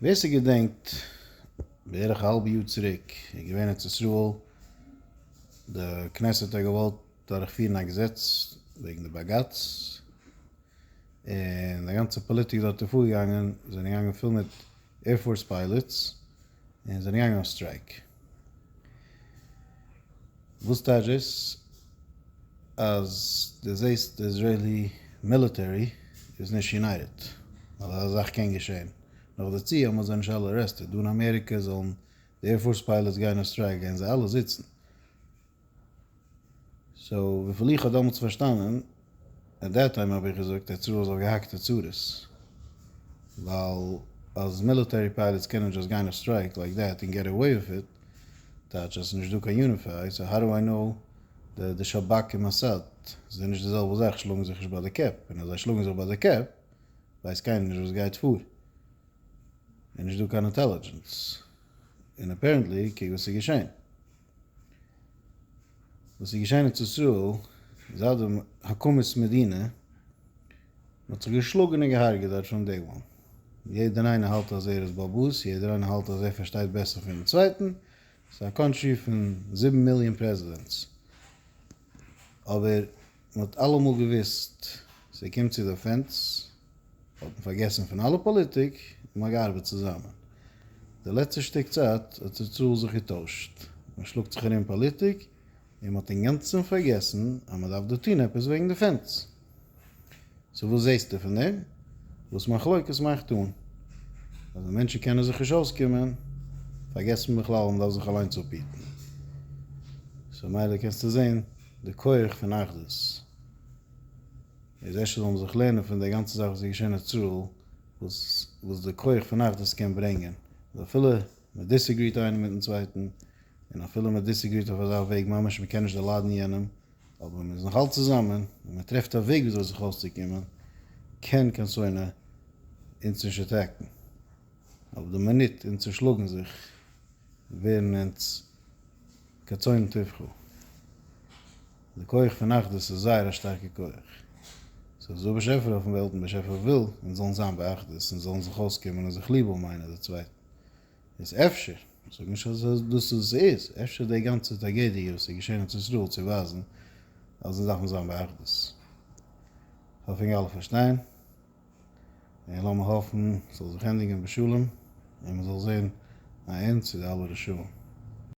ווער ס'געדענקט בערך א האלב יאר צוריק איז געווען ארץ ישראל, די כנסת האט געוואלט דורכפירן א געזעץ וועגן די בגץ, און די גאנצע פאליטיק דארט איז פארגעגאנגען, זענען געגאנגען פול מיט עירפארס פיילעטס, און זענען געגאנגען אויף סטרייק. וואס טייטש דאס? אז דו זעסט די איזרעילי מיליטערי איז נישט יונייטעד, אז אזא זאך קען געשען. נאכדערצו האבן זיי נישט אלע ארעסטעד. דא אין אמעריקע זאלן די עירפארס פיילעטס גיין אויף סטרייק, גייען זיי אלע זיצן. סאו וויפיל איך האב דאמאלטס פארשטאנען, עט דעט טיים האב איך געזאגט עטס רולס אויף געהאקטע צרות, ווייל אז מיליטערי פייליטס קענען דשאסט גיין אויף סטרייק לייק דעט און געט עוועי וויט איט, טייטש אז עס איז נישט דא קיין יוניפיי, סאו האו דו איי נאו דעט די שבכ און מאסאד זענען נישט די זעלבע זאך שלאגן זיך נישט ביי די קעפ, און אז זיי שלאגן זיך ביי די קעפ ווייסט קיינער נישט וואס גייט פאר, און נישט דא קיין אינטעלידזשענס, און אפערענטלי קוק וואס איז געשען. וואס איז געשען אין ארץ ישראל זייט די הקמת מדינה, מען האט זיך געשלאגן און געהארגעט דארט פרום דעי וואן, יעדער איינער האלט אז ער איז באבוס, יעדער איינער האלט אז ער פארשטייט בעסער פונעם צווייטן, ס'איז א קאנטרי פון זיבן מיליאן פרעזידענטס, אבער מען האט אלעמאל געוויסט ס'קומט צו דעפענס, האט מען פארגעסן פון אלע פאליטיק און מען האט געארבעט צוזאמען. די לעצטע שטיק צייט האט די צאל זיך געטוישט, מען שלאגט זיך ארום פאליטיק און מען האט אינגאנצן פארגעסן אז מען דארף דא טון עפעס וועגן דעפענס. סאו וואס זעסטו פון דעם? וואס מחלוקת מאכט אן? אז די מענטשן קענען זיך נישט אויסקומען, פארגעסט מען בכלל אז מען דארף זיך אליינס אפהיטן. סאו ממילא קענסטו זען. די כח פון אחדות איז אפשר זאל מען זיך לערנען פון די גאנצע זאך וואס איז געשען אין ישראל וואס וואס די כח פון אחדות קען ברענגען אז אפילו מען דיסעגריט איינער מיטן צווייטן און אפילו מען דיסעגריט אויף אזא וועג ממש מען קען נישט דערליידן יענעם אבער מען איז נאך אלץ צוזאמען און מען טרעפט א וועג וויאזוי זיך אויסצוקומען קען קיין שונא אונז נישט עטעקן אויף די מינוט און צושלאגן זיך. ווערן אונז כצאן טבחו. די כח פון אחדות איז זייער א שטארקע כח. סאיז דא באשעפער אויפן וועלט און באשעפער וויל אונז זאלן זיין באחדות און זאלן זיך אויסקומען און זיך ליב האבן איינער די צווייטן. איז אפשר, כ'זאג נישט אז סאיז דאס וואס סאיז, אפשר די גאנצע טראגעדיע וואס איז געשען ארץ ישראל צו ווייזן אז אונז דארפן זיין באחדות. כ'האף אונג אלע פארשטיין. און לאמיר האפן ס'זאל זיך ענדיגען בשלום און מ'זאל זען א ענד צו די אלע רשעים.